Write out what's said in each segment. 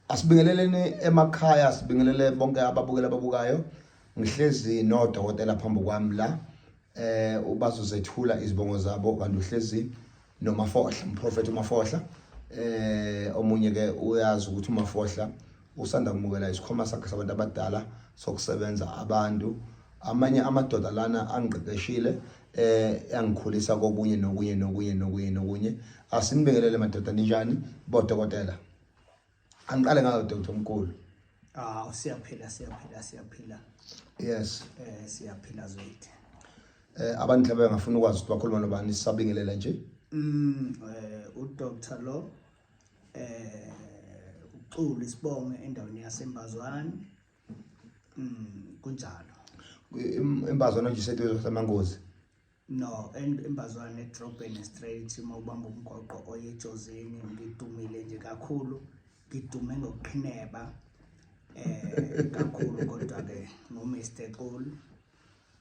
Asibingeleleni emakhaya sibingelele bonke ababukela ababukayo ngihlezi nodokotela phambi kwami la eh ubazozethula izibongo zabo kanti uhlezi nomafohla umprofeti umafohla eh omunye ke uyazi ukuthi umafohla usanda kumukela isikhoma sakhe sabantu abadala sokusebenza abantu amanye amadoda lana angiqeqeshile eh yangikhulisa kokunye nokunye nokunye nokunye nokunye asinibingelele madoda ninjani bodokotela angiqale ngayo doctor omkhulu ah siyaphila siyaphila siyaphila yes eh siyaphila zwethu eh abantu mhlawumbe ngafuna ukwazi ukuthi bakhuluma nobani sisabingelela nje mm eh udr lo eh uxulu isibonge endaweni yasembazwane Mm, kunjalo. Imbazwana nje iseduze samangozi. No, imbazwana edrobheni straight uma ubamba umgoqo oye ejozini ngidumile nje kakhulu. Ngidume ngokuqhineba eh kakhulu kodwa ke ngo Mr. Cool.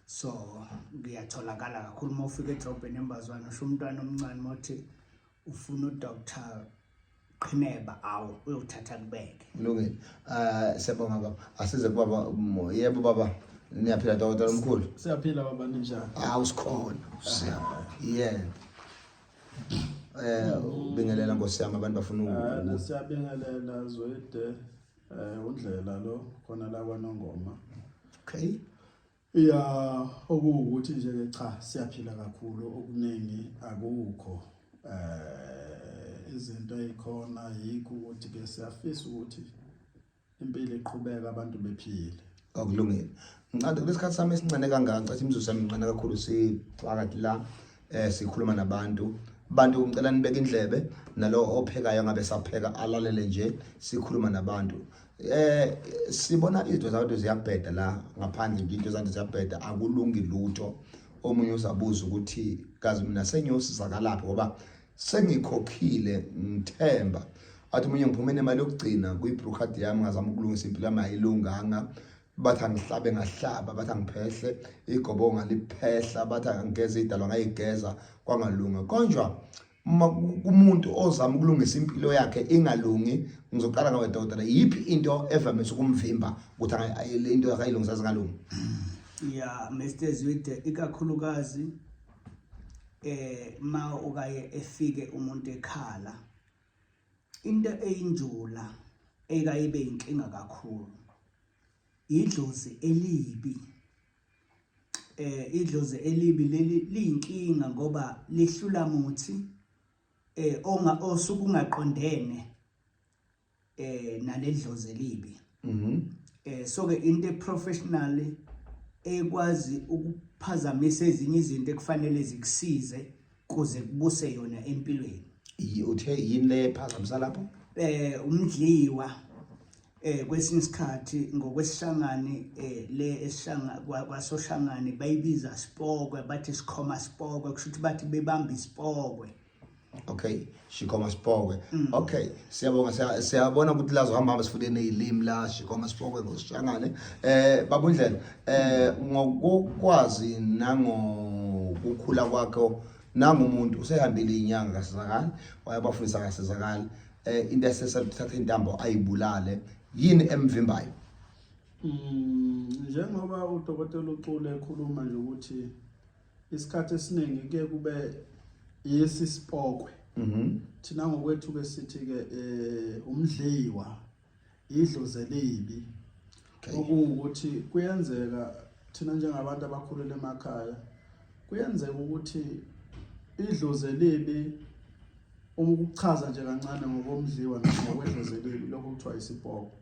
So ngiyatholakala kakhulu uma ufika edrobheni embazwana usho umntwana omncane mothi ufuna uDr qhineba awu uyothatha kubeke kulungile eh siyabonga baba asize kubaba umoya yebo baba niyaphila dokotela omkhulu siyaphila baba ninjani awu sikhona siyabonga yeah eh ubingelela nkosi yami abantu bafuna Eh, uku siyabingelela zwede eh undlela lo khona la kwanongoma okay Ya okuwukuthi nje ke cha siyaphila kakhulu okuningi akukho eh izinto ezikhona yikho ukuthi ke siyafisa ukuthi impilo iqhubeka abantu bephile akulungile ngicade kulesikhathi sami esincane kangaka ngicathe imizuzu yami incane kakhulu siphakathi la eh sikhuluma nabantu bantu ngicela nibeke indlebe nalo ophekayo ngabe sapheka alalele nje sikhuluma nabantu eh sibona izinto zabantu ziyabheda la ngaphandle nje into zabantu ziyabheda akulungi lutho omunye uzabuza ukuthi kazi mina sengiyosizakalaphi ngoba sengikhokhile ngithemba athi omunye ngiphume nemali yokugcina kwi-brew card yami ngazama ukulungisa impilo yami ayilunganga bathi angihlabe ngahlaba bathi angiphehle igobo ngaliphehla bathi angigeze idalwa ngayigeza kwangalunga konjwa uma kumuntu ozama ukulungisa impilo yakhe ingalungi ngizoqala ngawe dokotela yiphi into evamise ukumvimba ukuthi le into yakhe ayilungisa zingalungi ya Mr Zwide ikakhulukazi eh ma ukaye efike umuntu ekhala into eyinjula ekayibe inkinga kakhulu idlozi elibi eh idlozi elibi leli liyinkinga ngoba lihlula muthi eh onga osuku ungaqondene eh naledlozi elibi mhm eh so ke into professional ekwazi ukuphazamisa ezinye izinto ekufanele zikusize kuze kubuse yona empilweni Yi- uthe yini le ephazamisa lapho eh umdliwa eh kwesinye isikhathi ngokwesishangane eh le esishanga kwa- kwasoshangane bayibiza sipokwe bathi sikhoma sipokwe kusho ukuthi bathi bebamba isipokwe okay Shikoma Sipokwe mm. okay siyabonga siyabona ukuthi lazo hamba hamba sifune nezilimi la Shikoma Sipokwe ngosishangane eh babundlela eh ngokwazi nango ukukhula kwakhe nangumuntu usehambile inyanga kasizakali wayabafundisa kasizakali eh into esesathatha intambo ayibulale yini emvimbayo mm njengoba udokotela ucule ekhuluma nje ukuthi isikhathi esiningi kuye kube yesi sipokwe mhm. thina ngokwethu ke sithi ke eh, umdliwa idlozi elibi okuwukuthi kuyenzeka thina njengabantu abakhulele emakhaya kuyenzeka ukuthi idlozi elibi uma ukuchaza nje kancane ngokomdliwa nokwedlozi elibi lokho kuthiwa isipoko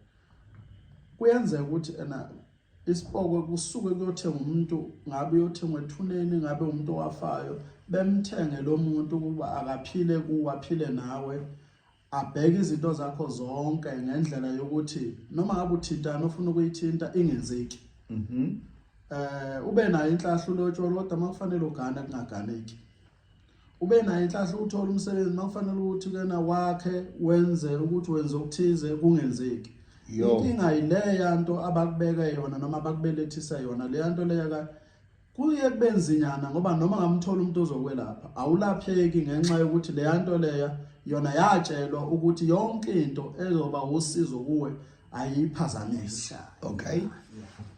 kuyenzeka ukuthi ena isipokwe kusuke kuyothenga umuntu ngabe uyothengwa ethuneni ngabe umuntu owafayo bemthenge lo muntu ukuba akaphile kuwe aphile nawe abheke izinto zakho zonke ngendlela yokuthi noma ngabe uthintana ufuna ukuyithinta ingenzeki mhm eh ube nayo inhlahla ulotsholo kodwa makufanele ugane kungaganeki ube nayo inhlanhla ukuthola umsebenzi makufanele ukuthi kena wakhe wenze ukuthi wenze okuthize kungenzeki inkinga yileya nto abakubeka yona noma abakubelethisa yona leya nto leya ka kuye kube nzinyana ngoba noma ngamthola umuntu ozokwelapha awulapheki ngenxa yokuthi leya nto leya yona yatshelwa ukuthi yonke into ezoba usizo kuwe ayiphazamisi okay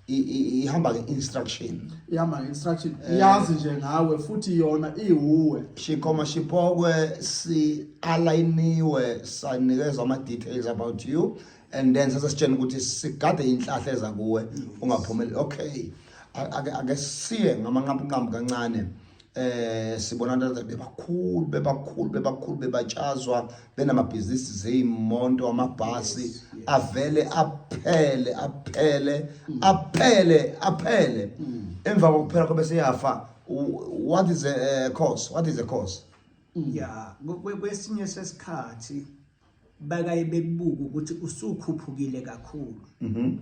ihamba nge-instruction ihamba nge-instruction eh. iyazi nje ngawe futhi yona iwuwe shikhoma shiphokwe si-alayiniwe sanikezwa ama-details about you and then sasesitshena ukuthi sigade inhlahla eza kuwe ungaphumeli okay ake siye ngamanqampunqampu kancane eh sibona abantu bebakhulu bebakhulu bebakhulu bebatshazwa benamabhizinisi zeyimonto amabhasi avele aphele aphele mm. aphele aphele mm. emva kokuphela kobe seyafa what is a eh, cause what is a cause mm. yeah kwesinye sesikhathi bakaye bebuka ukuthi usukhuphukile kakhulu mm-hmm.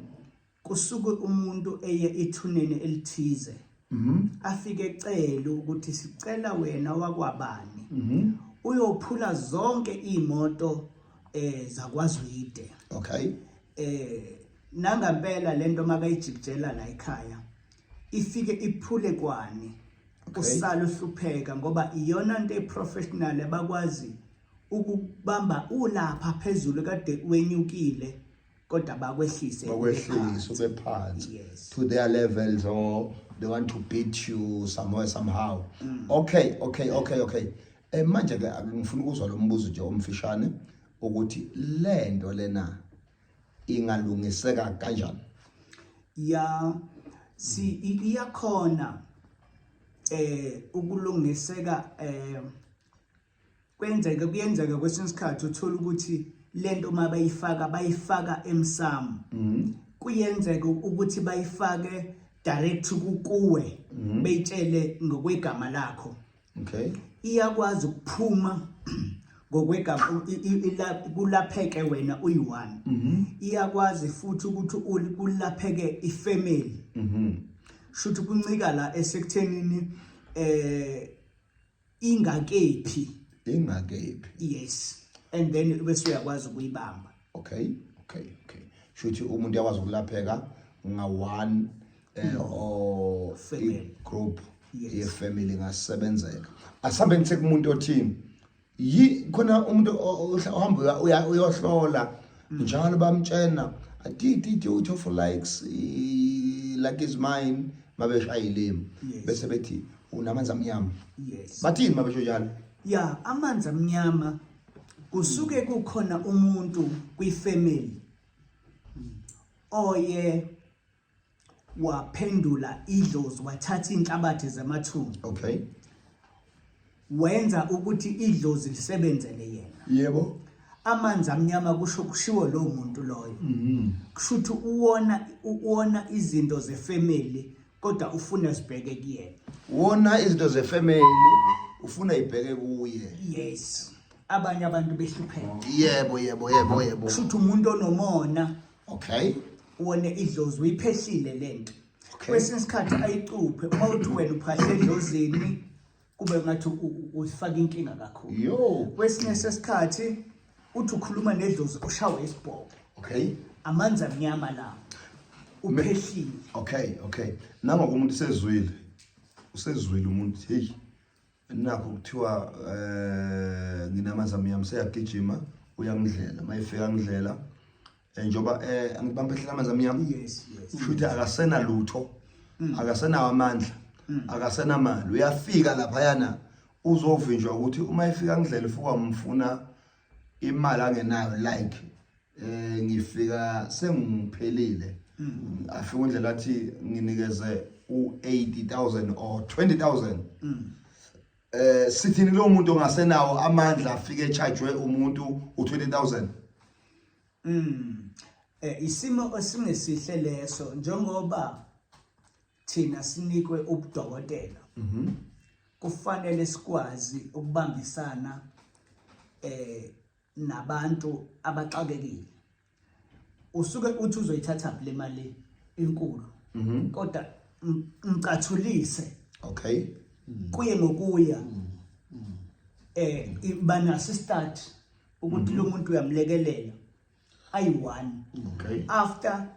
kusuke umuntu eye ethuneni elithize mhm. afike ecela ukuthi sicela wena wakwabani mhm. uyophula zonke imoto eh zakwazwide okay eh nangampela lento makayijikjela la ekhaya ifike iphule kwani usala uhlupheka ngoba iyona into eprofessional abakwazi ukubamba ulapha phezulu kade wenyukile kodwa bakwehlise bakwehlise ube phansi yes. to their levels or they want to beat you somewhere somehow mm. okay okay okay okay eh manje ke ngifuna ukuzwa lo mbuzo nje omfishane ukuthi lento lena ingalungiseka kanjani ya si iyakhona eh ukulungiseka eh kwenzeke kuyenzeka kwesinye isikhathi uthola ukuthi lento uma bayifaka bayifaka emsamo mhm. kuyenzeka ukuthi bayifake direct kuwe mhm. beyitshele ngokwegama lakho okay iyakwazi ukuphuma ngokwegama kulapheke wena uyi-one mhm. iyakwazi futhi ukuthi kulapheke ifamily shuthu kuncika la esekuthenini eh ingakephi ingakephi yes and then bese uyakwazi ukuyibamba okay okay okay shuthi umuntu yakwazi ukulapheka nga one eh, no. or family. group yes. ye family ngasebenzeka asambe ngithe kumuntu othini yi khona umuntu ohamba uyohlola njalo bamtshena adididi uthi for likes like is mine mabeshayilimi bese bethi unamanzi amnyama yes bathini mabesho njalo ya amanzi amnyama kusuke kukhona umuntu kwifamily oye waphendula idlozi wathatha inhlabathi zamathunzi okay wenza ukuthi idlozi lisebenzele yena yebo amanzi amnyama kusho kushiwo lo muntu loyo mhm. kusho ukuthi uwona uwona izinto zefamily kodwa ufuna zibheke kuyena wona izinto zefamily ufuna ibheke kuye yes abanye abantu behlupheka yebo yebo yebo yebo kusho ukuthi umuntu onomona okay wona idlozi uyiphehlile lento okay kwesinye isikhathi ayicuphe uma uthi wena uphahle edlozini kube ngathi usifaka inkinga kakhulu yo kwesinye sesikhathi uthi ukhuluma nedlozi ushawe isibhobo okay amanzi amnyama la uphehlile okay okay nangokumuntu usezwile usezwile umuntu hey nakho kuthiwa eh nginamazami yami seyagijima uyangidlela mayifika ngidlela eh, njoba eh angibambe hlela amazami yami yes yes futhi akasena lutho mm. akasena amandla mm. akasena mali uyafika lapha yana uzovinjwa ukuthi uma ifika ngidlela ifuka umfuna imali angenayo like eh ngifika sengiphelile mm. afika undlela athi nginikeze u80000 or 20000 mm. eh sithini lo muntu ongasenawo amandla afike echajwe umuntu u20000 mm eh isimo esingesihle leso njengoba thina sinikwe ubudokotela mhm kufanele sikwazi ukubambisana eh nabantu abaxakekile usuke uthi uzoyithatha le mali enkulu mhm. kodwa mcathulise okay mm. kuye ngokuya mm. Mm. eh banaso start ukuthi mhm. lo muntu uyamlekelela ayi-one okay. after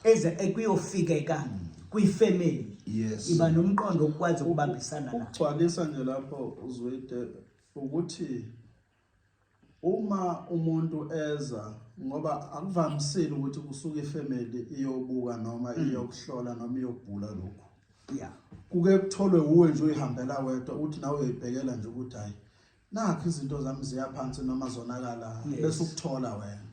eze ekuyofikeka eh, kwifamily yes. iba nomqondo okwazi ukubambisana la ugcwalisa nje lapho uzwide ukuthi Uma umuntu eza ngoba akuvamisile ukuthi kusuke ifamily iyobuka noma mm. iyokuhlola noma iyobhula lokhu. Yeah. Kuke kutholwe uwe nje uyihambela wedwa uthi nawe uyibhekela nje ukuthi hayi nakho izinto zami ziyaphansi noma zonakala bese ukuthola wena.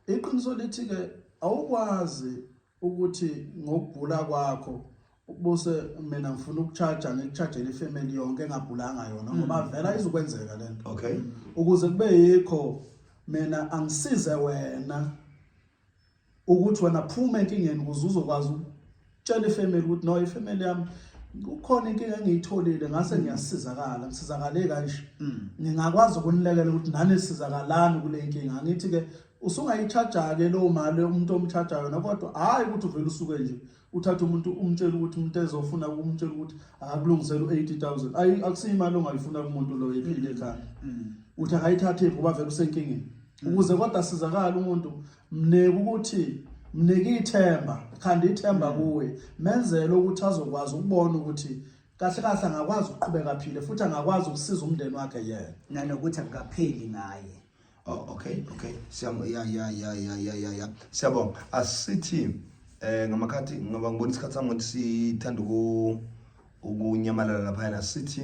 Iqiniso lithi ke awukwazi ukuthi ngokugula kwakho ubuse mina ngifuna ukucharge ngikuchargele ifamily yonke engabhulanga yona mm. ngoba vela izokwenzeka lento okay ukuze kube yikho mina angisize wena ukuthi wena phuma enkingeni ukuze uzokwazi ukutshela ifamily ukuthi no ifamily yami kukhona inkinga engiyitholile ngase ngiyasizakala ngisizakale kanje mm. ngingakwazi ukunilekela ukuthi nani sizakalani kule nkinga ngithi ke usungayichaja-ke leyo mali umuntu omchaja yona kodwa hhayi ukuthi uvele usuke nje uthathe umuntu umtshele ukuthi umuntu ezofuna kumtshela ukuthi akulungisele u-eighty thousand ayi akusiyo imali ongayifuna kumuntu loyo ephile ekhaya mm. uthi akayithathephi ngoba vele usenkingeni mm. ukuze kodwa asizakale umuntu mneke ukuthi mnike ithemba khanda ithemba mm. kuwe menzele ukuthi azokwazi ukubona ukuthi kahle kahle angakwazi ukuqhubeka aphile futhi angakwazi ukusiza umndeni wakhe yena nanokuthi akukapheli ngaye Oh, okay, okay. Siyabonga. Ya ya ya ya ya ya ya. Siyabonga. Asithi eh ngamakhathi ngoba ngibona isikhathi sami ukuthi sithanda uku ukunyamalala lapha na sithi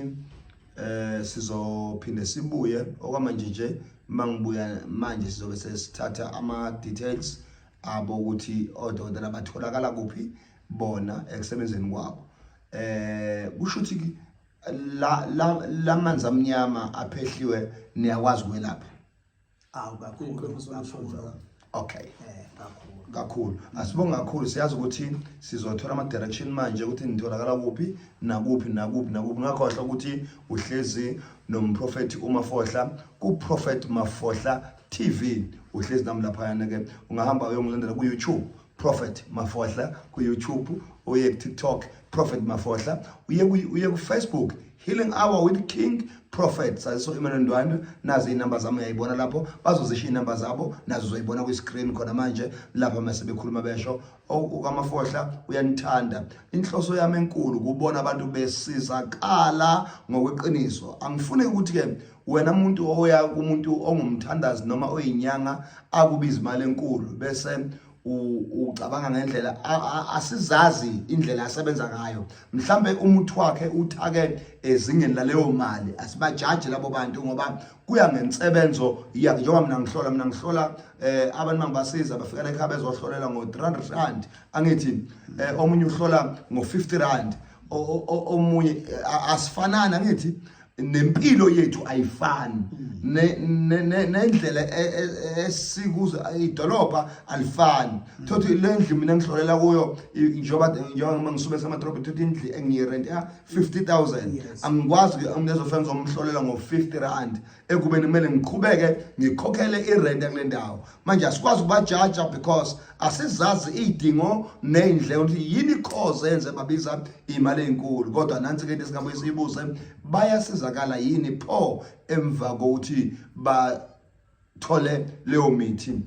eh sizophinde sibuye okwamanje nje mangibuya manje sizobe sesithatha ama details abo ukuthi odokotela batholakala kuphi bona ekusebenzeni kwabo eh kusho ukuthi la la lamanzi amnyama aphehliwe niyakwazi kwelapha awu kakhulu kakhulu okay eh kakhulu kakhulu asibonga kakhulu siyazi ukuthi sizothola ama direction manje ukuthi nitholakala kuphi nakuphi nakuphi nakuphi ngakhohle ukuthi uhlezi nomprofeti uMafohla ku Prophet Mafohla TV uhlezi nami lapha yana ke ungahamba uyongilandela ku YouTube Prophet Mafohla ku YouTube uye ku TikTok Prophet Mafohla uye ku uye ku Facebook Healing Hour with King Prophet saziso Emmanuel Ndwandwe nazi inamba zami uyayibona lapho bazozisha inamba zabo nazo uzoyibona ku screen khona manje lapha mase bekhuluma besho uKamafohla uyanithanda inhloso yami enkulu kubona abantu besizakala ngokweqiniso angifune ukuthi ke wena muntu oya kumuntu ongumthandazi noma oyinyanga akubiza imali enkulu bese ucabanga ngendlela asizazi indlela asebenza ngayo mhlambe umuthi wakhe uthake ezingeni laleyo mali asibajaji labo bantu ngoba kuya ngensebenzo yakhe njengoba mina ngihlola mina ngihlola eh abantu mangibasiza bafika la ekhaya bezohlolela ngo 300 rand angithi eh, omunye uhlola ngo 50 rand omunye asifanana ngithi nempilo yethu ayifani mm. nendlela e, e, e, esikuzo idolobha alifani mm. thothi le ndlu mina ngihlolela kuyo njengoba njengoba ngisuke semadrobha thothi indlu engiyirent ya 50000 angikwazi ke umuntu ezofana ngizomhlolela ngo 50 rand ekubeni kumele ngiqhubeke ngikhokhele irent kule ndawo manje asikwazi ukubajaja because asizazi iy'dingo ney'ndleko ukuthi yini ikhoze enze babiza iy'mali ey'nkulu kodwa nansi ke into esingabuye siyibuze bayasizakala yini pho emva kokuthi bathole leyo mithi um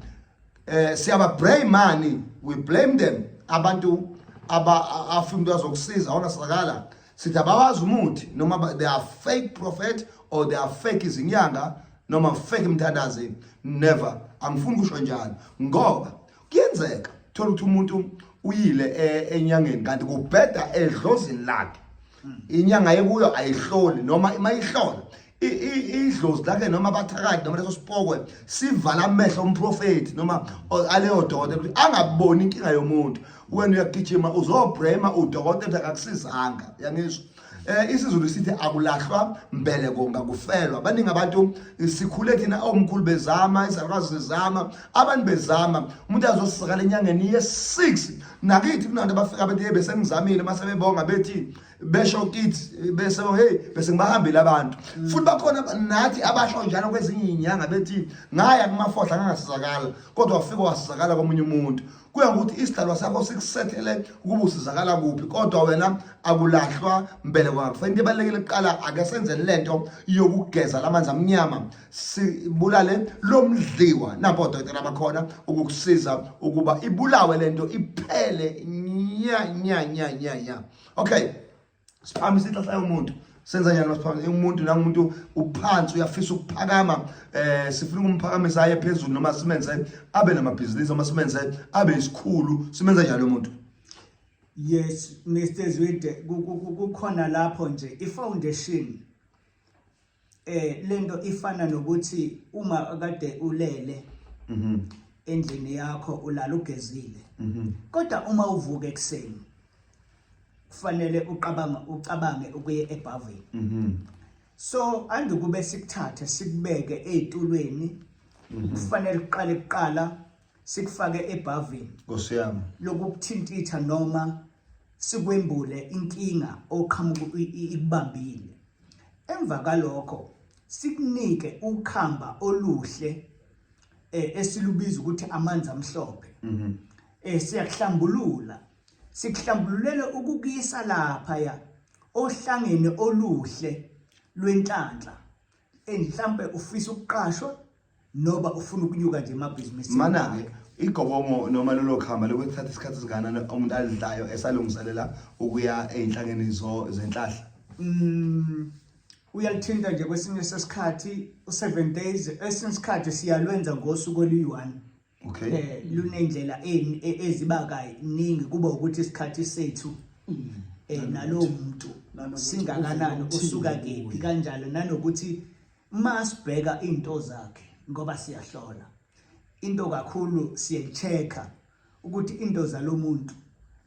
eh, siyababrayimani we blame them abantu afuna umuntu azokusiza awunasizakala sithi abawazi umuthi noma they are fake prophet or they are fake izinyanga noma fake mthandazi never angifuni kusho njalo ngoba kuyenzeka thola ukuthi umuntu uyile e, enyangeni kanti kubheda edlozini lakhe hmm. inyanga yekuyo ayihloli noma mayihlola idlozi lakhe noma abathakathi noma leso sipokwe sivala amehlo omprofethi noma aleyo dokotela ukuthi angaboni inkinga yomuntu wena uyagijima uzobrema udokotela akakusizanga yangizwa eh isiZulu sithi akulahlwa mbele konga kufelwa baningi abantu sikhule thina omkhulu bezama izalukazi zizama abantu bezama umuntu azosizakala enyangeni ye6 nakithi kunantu abafika bethi hey bese ngizamile mase bebonga bethi besho kithi bese hey bese ngibahambile abantu mm. futhi bakhona nathi abasho njalo kwezinye inyanga bethi ngaya kumafohla ngangasizakala kodwa wafika wasizakala komunye umuntu kuya ngokuthi isidalwa sakho sikusethele ukuba usizakala kuphi kodwa wena akulahlwa mbeleko yakho fanele ibalekele kuqala ake senzeni lento yokugeza lamanzi amnyama sibulale lomdliwa napo dokotela bakhona ukukusiza ukuba ibulawe lento iphele nya nya nya nya nya okay siphakamisa inhlahla yomuntu senza njani masiphakamisa umuntu nangumuntu uphansi uyafisa ukuphakama eh sifuna ukumphakamisa aye phezulu noma simenze abe namabhizinisi noma simenze abe isikhulu simenza njalo umuntu yes Mr Zwide kukhona lapho nje i foundation eh lento ifana nokuthi uma kade ulele mhm endlini yakho ulala ugezile mhm kodwa uma uvuka ekseni kufanele uqabanga ucabange ukuye ebhavini mhm so andukube sikuthathe sikubeke ezitulweni mhm. kufanele uqale kuqala sikufake ebhavini nkosiyami lokukuthintitha noma sikwembule inkinga oqhamuka ikubambile emva kalokho sikunike ukhamba oluhle eh, esilubiza ukuthi amanzi amhlophe mhm. eh siyakuhlambulula sikuhlambululele ukukuyisa lapha ya ohlangene oluhle lwenhlanhla and mhlambe ufisa ukuqashwa noba ufuna ukunyuka nje emabhizinisini mana-ke igobomo noma lolo khamba lokuthatha isikhathi esinganani umuntu alidlayo esalungiselela ukuya ey'nhlangeni zenhlahla mm, uyalithinta nje kwesinye sesikhathi u-seven days esinye isikhathi siyalwenza ngosuku oluyi-one okay eh lunendlela e- eziba kaningi kuba ukuthi isikhathi sethu mm. eh nalowo muntu singakanani usuka kephi kanjalo nanokuthi masibheka into zakhe ngoba siyahlola into kakhulu siyechecker ukuthi into zalomuntu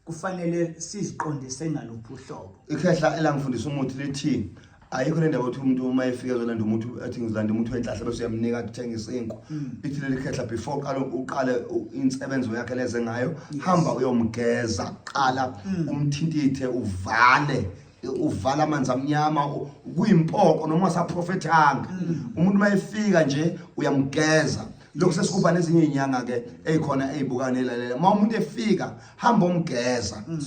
kufanele siziqondise ngaluphi uhlobo ikhehla elangifundisa umuthi lithini ayikho le ndaba ukuthi umuntu uma efika ezolanda umuthi athi ngizilanda umuthi wenhlahla bese uyamnika athi uthenga isinku mm. lithi leli khehla before qala uqale insebenzo yakhe leze ngayo hamba uyomgeza qala mm. umthintithe uvale uvala amanzi amnyama kuyimpoko noma saprofethanga mm. umuntu mayefika nje uyamgeza lokhu sesikuba nezinye izinyanga ke ezikhona ezibukana elalela uma umuntu efika hamba omgeza mm.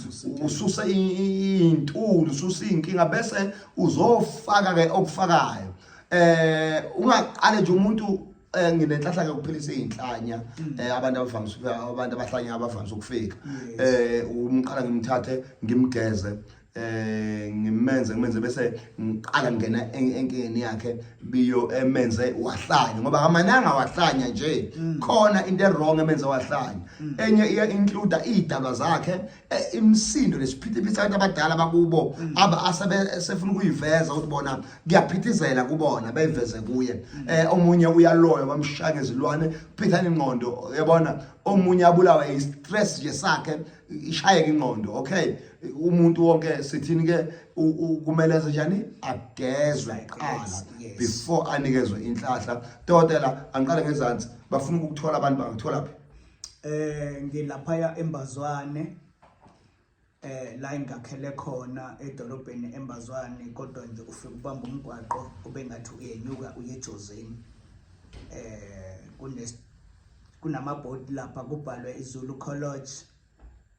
ususa intulu ususa inkinga bese uzofaka ke okufakayo eh ungaqale nje umuntu eh, nginenhlahla ke ukuphilisa izinhlanya mm. eh, abantu abavamise abantu abahlanya abavamise ukufika eh umqala ngimthathe ngimgeze eh ngimenze ngimenze bese ngiqala ngena enkingeni yakhe biyo emenze wahlanya ngoba amananga wahlanya nje mm. khona into ewrong emenze wahlanya mm. enye iya include idaba zakhe eh, imsindo lesiphithiphithi abantu abadala bakubo mm. aba asabe sefuna ukuyiveza ukuthi bona kuyaphithizela kubona beyiveze kuye eh omunye uyaloya bamshaka izilwane phithana ingqondo yabona omunye abulawa i stress nje sakhe ishayeka ingqondo okay umuntu wonke sithini ke kumele enze njani agezwe qala before anikezwe inhlahla dokotela angiqale ngezansi bafuna ukuthola abantu bangithola phi eh ngilaphaya embazwane eh la ingakhele khona edolobheni embazwane kodwa nje ufike ubamba umgwaqo obengathi uyenyuka uye Jozini eh kune kunamabhodi lapha kubhalwe izulu college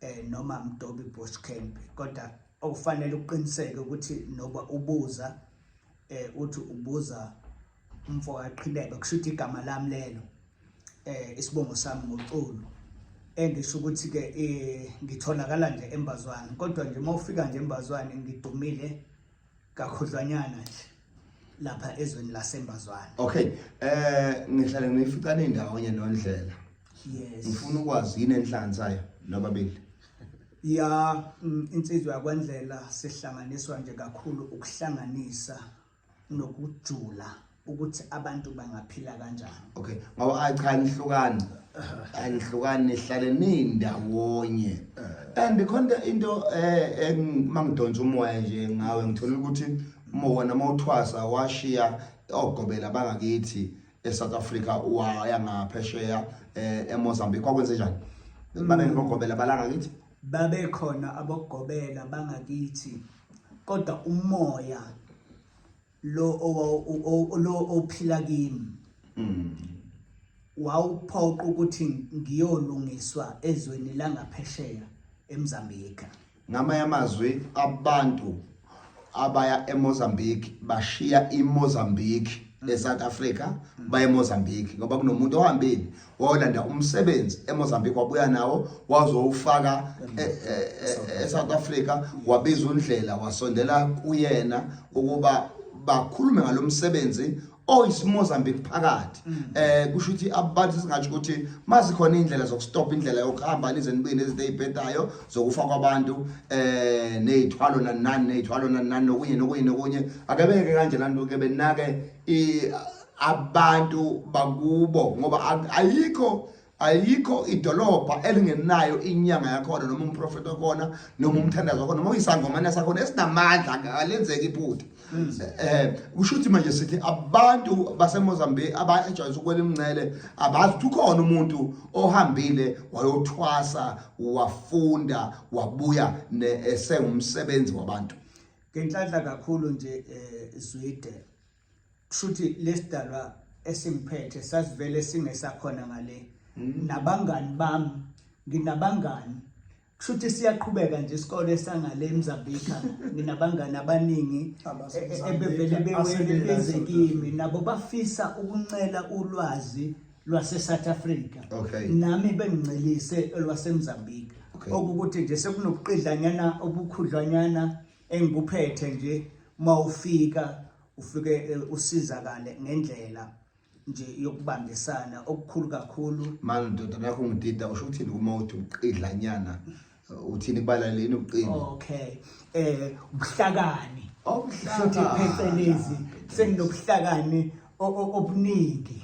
um noma mdobi bush camp kodwa okufanele uqiniseke ukuthi noba ubuza um uthi ubuza umfo kaqhilebe kusho ukuthi igama lami lelo um isibongo sami ngoculo engisho ukuthi-ke um ngitholakala nje embazwane kodwa nje uma ufika nje embazwane ngidumile kakhudlwanyana nje lapha ezweni lasembazwana okay eh ngihlale ngiyifica nendawonye nondlela yes ngifuna ukwazi yini enhlanzayo nobabili ya mm, insizwa yakwandlela sihlanganiswa nje kakhulu ukuhlanganisa nokujula ukuthi abantu bangaphila kanjani okay ngoba ay cha nihlukani anihlukani nihlale nindawonye eh. and khona into eh mangidonsa umoya nje ngawe ngithola ukuthi mona mawuthwasa washiya ogobela bangakithi eSouth Africa waya ngaphesheya eh, eMozambique kwakwenze njani manje mm. ngogobela balanga kithi babekhona abogobela bangakithi kodwa umoya lo lo ophila kimi mm. wawuphoqa ukuthi ngiyolungiswa ezweni langaphesheya eMozambique ngamanye amazwi abantu abaya eMozambique bashiya iMozambique eSouth Africa baye eMozambique ngoba kunomuntu ohambile wayolanda umsebenzi eMozambique wabuya nawo wazowufaka e, e, e, eSouth Africa wabiza undlela wasondela kuyena ukuba bakhulume ngalomsebenzi oyisimozambique phakathi mm. eh kusho ukuthi abantu singathi ukuthi mazikhona indlela zokustop indlela yokuhamba nize nibuye nezinto ezibhedayo zokufa kwabantu eh nezithwalo nanani nezithwalo nanani nokunye nokunye nokunye akebeke kanje lanto ke benake i abantu bakubo ngoba ayikho ayikho idolobha elingenayo inyanga yakhona noma umprofeti wakhona noma umthandazo wakhona noma uyisangomane sakhona esinamandla alenzeki iphutha um kusho ukuthi manje sithi abantu basemozambique abajwayisa ukwela imncele abazi ukuthi ukhona umuntu ohambile wayothwasa wafunda wabuya esengumsebenzi wabantu ngenhlanhla kakhulu nje um zwide kushuthi lesidalwa esingiphethe sasivele singesakhona ngale mm. nabangani bami nginabangani kushuthi siyaqhubeka nje isikole sangale eMzambika nginabangani abaningi e, e, ebevele bewele beze kimi nabo bafisa ukuncela ulwazi lwaseSouth Africa okay. nami bengincelise lwaseMzambika okay. okukuthi nje sekunobuqidlanyana obukhudlwanyana engikuphethe nje uma ufika ufike eh, usizakale ngendlela nje yokubambisana okukhulu kakhulu manje ndoda nakho ngidida usho ukuthini uma uthi uqidlanyana uthini kubalaleni uqini okay eh ubuhlakani obuhlakani oh, phecelezi senginobuhlakani obuningi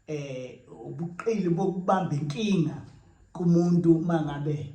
eh ubuqili bokubamba inkinga kumuntu mangabe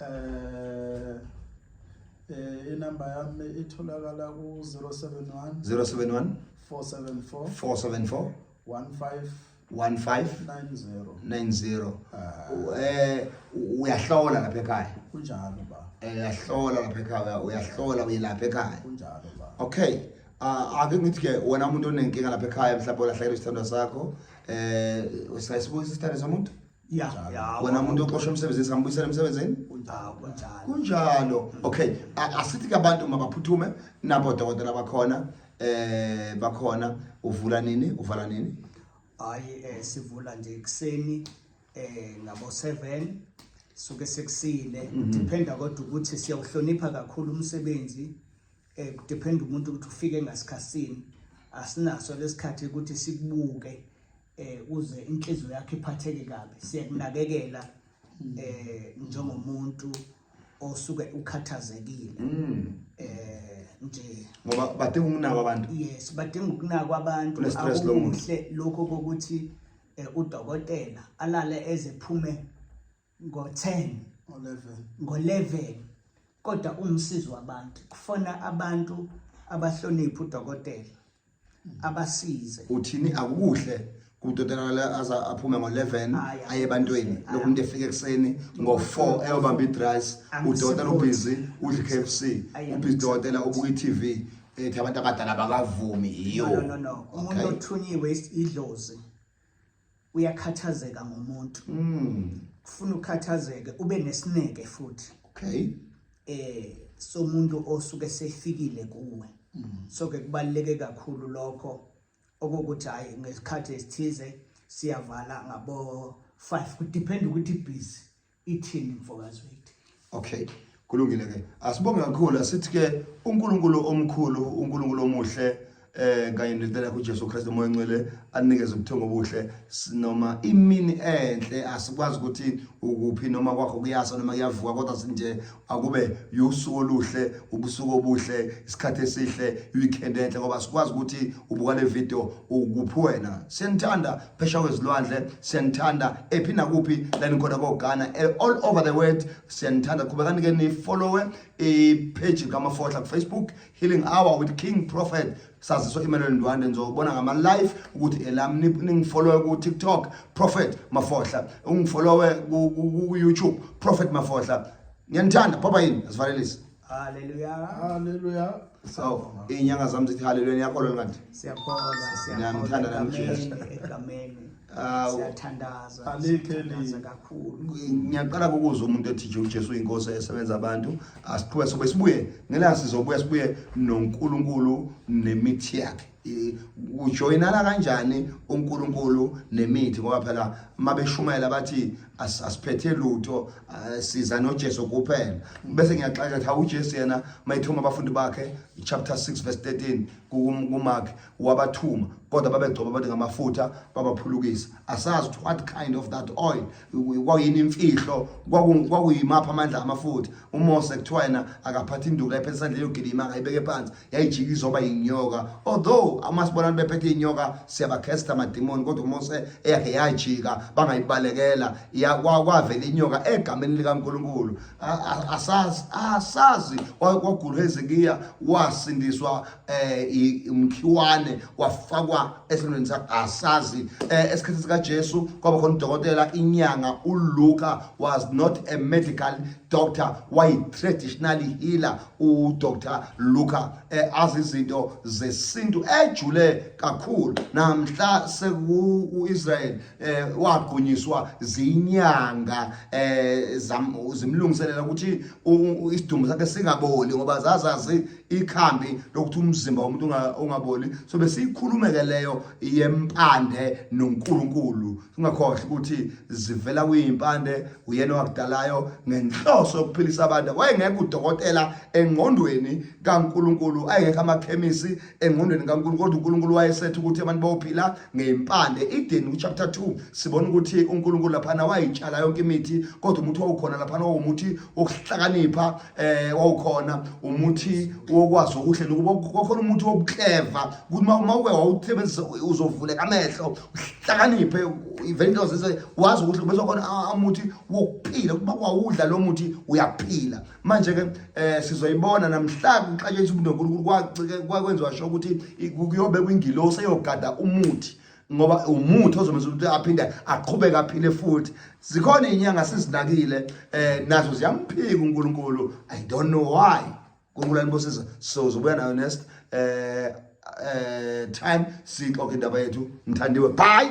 eh eh inamba yami itholakala ku 071 071 474 474 15 1590 ah. eh uyahlola lapha ekhaya kunjalo ba eh uyahlola lapha ekhaya uyahlola uyelapha ekhaya kunjalo ba okay ah, ake ngithi ke wena umuntu onenkinga lapha ekhaya mhlawumbe ulahlekelwe isithandwa sakho eh usayisibuza isithandwa somuntu wena muntu oxosha emsebenzini singambuyisela emsebenzini kunjalo mm. okay asithi ke abantu mabaphuthume nabo dokotela bakhona eh bakhona uvula nini uvala nini hayi eh, sivula nje kuseni eh ngabo 7 suke sekusile mhm. dependa kodwa ukuthi siyawuhlonipha kakhulu umsebenzi eh dependa umuntu ukuthi ufike ngasikhatsini asinaso lesikhathi ukuthi sikubuke eh uze inhliziyo yakhe iphatheke kabi siyakunakekela eh njengomuntu osuke ukhathazekile mm. eh nje ngoba badinga ukunakwa abantu yes badinga ukunakwa abantu akuhle lokho kokuthi eh, udokotela alale ezephume ngo-10 ngo-11 kodwa umsizi wabantu kufona abantu abahlonipha udokotela abasize uthini akukuhle kudodelakale aza aphume ngo-11 aye ebantweni lokhu umuntu efika ekuseni ngo-4 eyobamba idrice udokotela ubhizi udla i-k f c ubhizi dokotela ubuka i-tv ethi abantu abadala bakavumi yiyo umuntu othunyiwe idlozi uyakhathazeka ngomuntu mm. kufuna ukhathazeke ube nesineke futhi okay eh somuntu osuke sefikile kuwe mm. so ke kubaleke kakhulu lokho okokuthi hayi ngesikhathi esithize siyavala ngabo 5 kudepend ukuthi busy ithini mfokaZwide okay kulungile ke asibonge kakhulu asithi ke uNkulunkulu omkhulu uNkulunkulu omuhle eh kanye nendlela kuJesu Kristu moya ngcwele anikeze ubuthongo obuhle noma imini enhle asikwazi ukuthi ukuphi noma kwakho kuyasa noma kuyavuka kodwa sinje akube usuku oluhle ubusuku obuhle isikhathi esihle weekend enhle ngoba sikwazi ukuthi ubuka le video ukuphi wena senithanda phesha kwezilwandle siyanithanda ephi nakuphi la nikhona koghana eh, all over the world siyanithanda qhubekani ke nifollowe ipheji kamafohla kufacebook healing hour with king prophet saziso imelweni ndwande ngizobona ngama-live ukuthi elam ningifollowe ku-tiktok prophet mafohla ungifollowe ku-youtube prophet mafohla ngiyanithanda phapha yini asivalelise Haleluya. Haleluya. So, inyanga zami zithi haleluya niyakholwa kanti? Siyakholwa, siyakholwa. Ngiyamthanda nami Jesu. Egameni. Awu. Siyathandaza. Siyathandaza kakhulu. Ngiyaqala ukuzwa umuntu ethi nje uJesu uyinkosi esebenza abantu. Asiqhubeke sobe sibuye. Ngelanga sizobuya sibuye noNkulunkulu nemithi yakhe. ujoyinana kanjani uNkulunkulu nemithi ngoba phela uma beshumayela bathi asiphethe lutho siza noJesu kuphela bese ngiyaxaka ukuthi uJesu yena mayithuma abafundi bakhe chapter 6 verse 13 kuMark wabathuma kodwa babegcoba bathi ngamafutha babaphulukisa asazi what kind of that oil kwakuyini imfihlo kwakuyimaphi amandla amafuthi umose kuthiwa yena akaphatha induku la iphethe isandla yogilima akayibeke phansi yayijika izoba yinyoka although uma sibona abantu bephethe iy'nyoka siyabakhesta amadimoni kodwa umose eyakhe yajika bangayibalekela kwavela inyoka egameni likankulunkulu asazi kwagulwa hezekiya wasindiswa eh umkhiwane wafakwa esilweni sasazi eh, esikhathini sika Jesu kwaba khona udokotela inyanga uLuka was not a medical doctor why traditional healer u Dr Luka eh, azi izinto zesintu ejule kakhulu namhla seku uIsrael eh, wagunyiswa zinyanga eh, zimlungiselela ukuthi isidumbu sakhe singaboli ngoba zazazi ikhambi lokuthi umzimba womuntu ungaboli so besiyikhulumeke leyo yempande noNkulunkulu singakhohle ukuthi zivela kuyimpande uyena wakudalayo ngenhloso yokuphilisa abantu wayengekho udokotela engqondweni kaNkulunkulu ayengekho amakhemisi engqondweni kaNkulunkulu kodwa uNkulunkulu wayesethe ukuthi abantu bayophila ngempande ideni ku chapter 2 sibona ukuthi uNkulunkulu lapha wayitshala yonke imithi kodwa umuthi wawukhona lapha wawumuthi wokuhlakanipha eh wawukhona umuthi wokwazi okuhle nokuba kwakhona umuthi wobukleva ukuthi uma uke wawusebenzisa uzovuleka amehlo uhlakaniphe even into zise wazi ukuthi bese khona amuthi wokuphila ukuba kwawudla lo muthi uyaphila manje ke eh sizoyibona namhlanje kuxatshe isibundonkulunkulu kwakwenziwa sho ukuthi kuyobe kwingilosi eyogada umuthi ngoba umuthi ozomenza ukuthi aphinde aqhubeke aphile futhi zikhona inyanga sizinakile eh nazo ziyamphika uNkulunkulu i don't know why uNkulunkulu anibusise so uzobuya nayo next eh eh time sixoxe indaba yethu mthandiwe bye